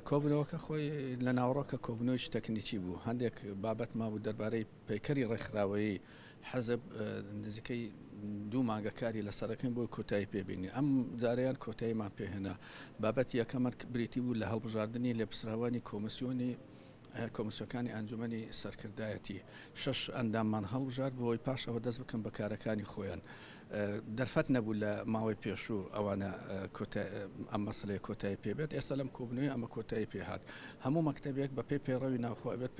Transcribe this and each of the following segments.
کۆبوونەوەکە خۆی لە ناوەڕۆکە کۆبوونەوەی تەکنیکی بوو هەندێک بابەت مابوو دەربارەی پەیکەری ڕێکخراوەیی حەزب نزیکەی دوو مانگە کاری لە سەرەکەین بۆ کۆتایی پێبینی ئەم جاریان کۆتاییمان پێهێنا بابەت یەکەمان بریتی بوو لە هەڵبژاردننی لێپسراوانی کۆمسیۆنی کۆمسیۆکانی ئەنجومەنی سەرکردایەتی شەش ئەنداممان هەڵبژارد بۆی پاش ئەوە دەست بکەن بە کارەکانی خۆیان دەرفەت نەبوو لە ماوەی پێشوو ئەوانە ئەم مەسلەیە کۆتایی پێبێت ئێستا لەم کۆبنەوەی ئەمە کۆتایی پێهات هەموو مەکتتەبێک بە پێی پەیڕەوی ناوخۆ ئەبێت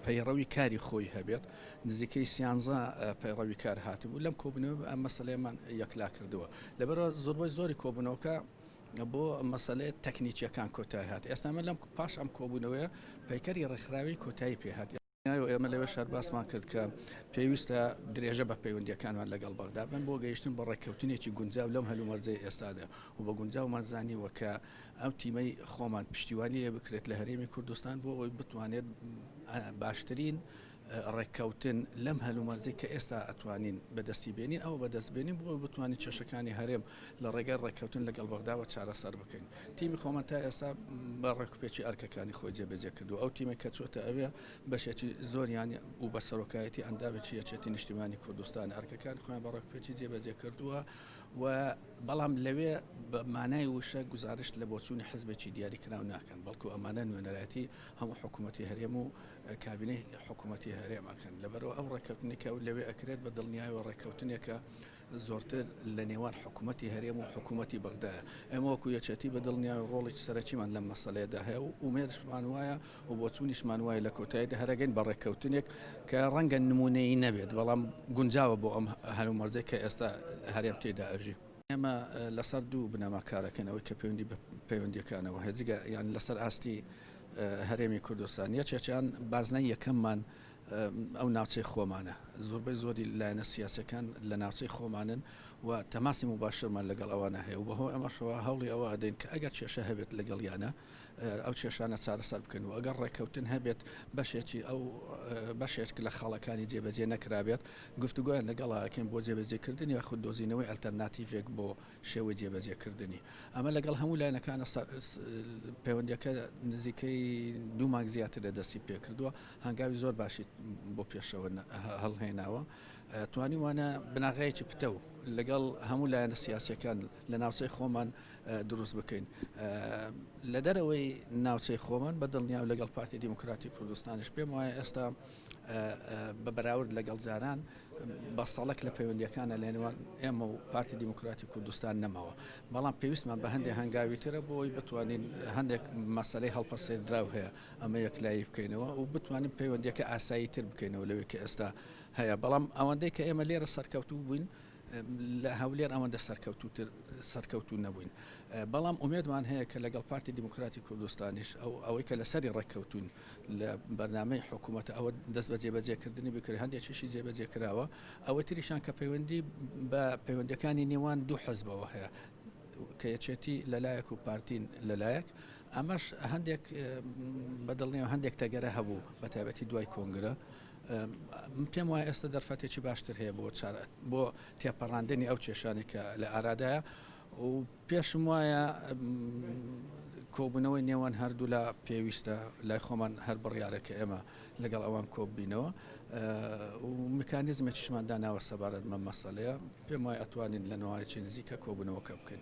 پەیڕەوی کاری خۆی هەبێت نزیکەی سیانزە پەیڕەوی کار هاتبوو لەم کۆبنەوە ئەم مەسلەیەمان یەکلا کردووە لەبەرەوە زۆربەی زۆری کۆبنەوەکە بۆ مەسەلەیە تەکنیکیەکان کۆتای هات ئێستا ئەمە لەم پاش ئەم کۆبوونەوەیە پەیکەری ڕێکخراوی کۆتایی پێهات و ئێمە لەوێ شار باسمان کرد کە پێویستە درێژە بە پەیوەندیەکانمان لەگەڵ بەغدا بن بۆ گەیشتن بە ڕێککەوتنێکی گونجاو لەم هەلومەرجەی ئێستادا و بە گونجاومان زانیوە کە ئەو تیمەی خۆمان پشتیوانی لێ بکرێت لە هەرێمی کوردستان بۆ ئەوی بتوانێت باشترین ڕێککەوتن لەم هەلومەرجەی کە ئێستا ئەتوانین بەدەستی بێنین ئەوە بەدەست بێنین بۆ بتوانین کێشەکانی هەرێم لە ڕێگای ڕێککەوتن لەگەڵ بەغداوە چارەسەر بکەین تیمی خۆمان تا ئێستا بە ڕێکوپێکی ئەرکەکانی خۆی جێبەجێ کردو ئەو تیمە کە چۆتە ئەوێ بەشێکی زۆریان و بە سەرۆکایەتی ئەندامێکی یەکێتی نیشتیمانی کوردستان ئەرکەکانی خۆیان بە ڕێکوپێکی جێبەجێ کردووە و بەڵام لەوێ بە مانای وشە گزارشت لە بۆچوونی حزبێکی دیاری کراو ناکەن بەڵکو ئەمانە نوێنەرایەتی هەموو حکوومەتتی هەرێم و کابینەی حکوومەتی هەرێم ئەکەن لەبەرەوە ئەو ڕێککەوتنی کە لەوێ ئەکرێت بە دڵنیایەوە ڕێککەوتنێکە زۆرتر لە نێوان حکوومەتی هەرێم و حکوومەتی بەغدایە ئێمە وەکو یەچەتی بە دڵنیایە ڕۆڵێکی سەرەکیمان لەم مەسلەیەدا هەیە و ئومێدشمان وایە و بۆچوونیشمان وایە لە کۆتاییدا هەرەگەین بە ڕێککەوتنێک کە ڕەنگە نمونەیی نەبێت بەڵام گونجاوە بۆ ئەم هەلومەرجەی کە ئێستا هەرێم تێدا ئەژی. ئێمە لەسەر دوو بنەما کارەکەنەوەی کە پەیوەندی بە پەیوەندیەکانەوە هەیە جگە یان لەسەر ئاستی هەرێمی کوردستان یەکێکیان بازنەی یەکەممان ئەو ناوچەی خۆمانە زۆربەی زۆری لایەنە سیاسەکان لە ناوچەی خۆمانن و تەماسی مباشرمان لەگەڵ ئەوانە هەیە و بەهۆی ئەمەشەوە هەوڵی ئەوە ئەدەین کە ئەگەر کێشە هەبێت لەگەڵیانە ئەو کێشانە چارەسەر بکەن و ئەگەر ڕێککەوتن هەبێت بەشێکی ئەو بەشێک لە خاڵەکانی جێبەجێ نەکرابێت گفتوگویان لەگەڵاکەین بۆ جێبەجێکردن یاخود دۆزینەوەی ئەلتەرناتیڤێک بۆ شێوەی جێبەجێکردنی ئەمە لەگەڵ هەموو لایەنەکانە پەیوەندیەکە نزیکەی دوو مانگ زیاتر لە دەستی پێکردووە هەنگاوی زۆر باشی بۆ پێشەوە هەڵهێناوە توانی وانە بناغەیەکی پتە و لەگەڵ هەموو لایەنە سیاسەکان لە ناوچەی خۆمان دروست بکەین لە دەرەوەی ناوچەی خۆمان بە دڵنیاو لەگەڵ پارتی دیموکراتی کوردستانش پێم وایە ئێستا بە بەراورد لەگەڵ جاران بەستەڵەک لە پەیوەندیەکانە لەنێوان ئێمە و پارتی دیموکراتی کوردستان نەماوە بەڵام پێویستمان بە هەندێک هەنگاوی ترە بۆی بتوانین هەندێک مەسلەی هەڵپەسێردراو هەیە ئەمە یەکلایی بکەینەوە و بتوانین پەیوەندیەکە ئاسایی تر بکەینەوە لەوەی کە ئێستا هەیە بەڵام ئەوەندەی کە ئێمە لێرە سەرکەوتوو بووین لە هەولێر ئەوەندە سەرکەوتووتر سەرکەوتوو نەبووین، بەڵام ئومێدمان هەیە کە لەگەڵ پارتی دیموکراتی کوردستانیش ئەو ئەوەی کە لەسەری ڕێککەوتووین لە بەرنامەی حکوومەت ئەوە دەست بە جێبەجێکردنی بکرێت، هەندێکیشی جێبەجێ کراوە، ئەوەی تریشیان کە پەیوەندی بە پەیوەندییەکانی نێوان دوو حزبەوە هەیە کە یەکێتی لە لایەک و پارتی لە لایەک، ئەمەش هەندێک بەدڵنیام هەندێک تەگەرە هەبوو بەتایبەتی دوای کۆنگرە. من پێم وایە ئێستا دەرفەتێکی باشتر هەیە بۆ چارەت بۆ تێپەڕاندنی ئەو کێشانێک کە لە ئارادایە و پێشم وایە کۆبوونەوەی نێوان هەردوو لە پێویستە لای خۆمان هەر بڕیارە کە ئێمە لەگەڵ ئەوان کۆببینەوە و میکانیزمێکیشمان داناوە سەبارەت مە مەسەلەیە پێم وای ئەتوانین لە نوایکی نزیکە کۆبوونەوەکە بکەین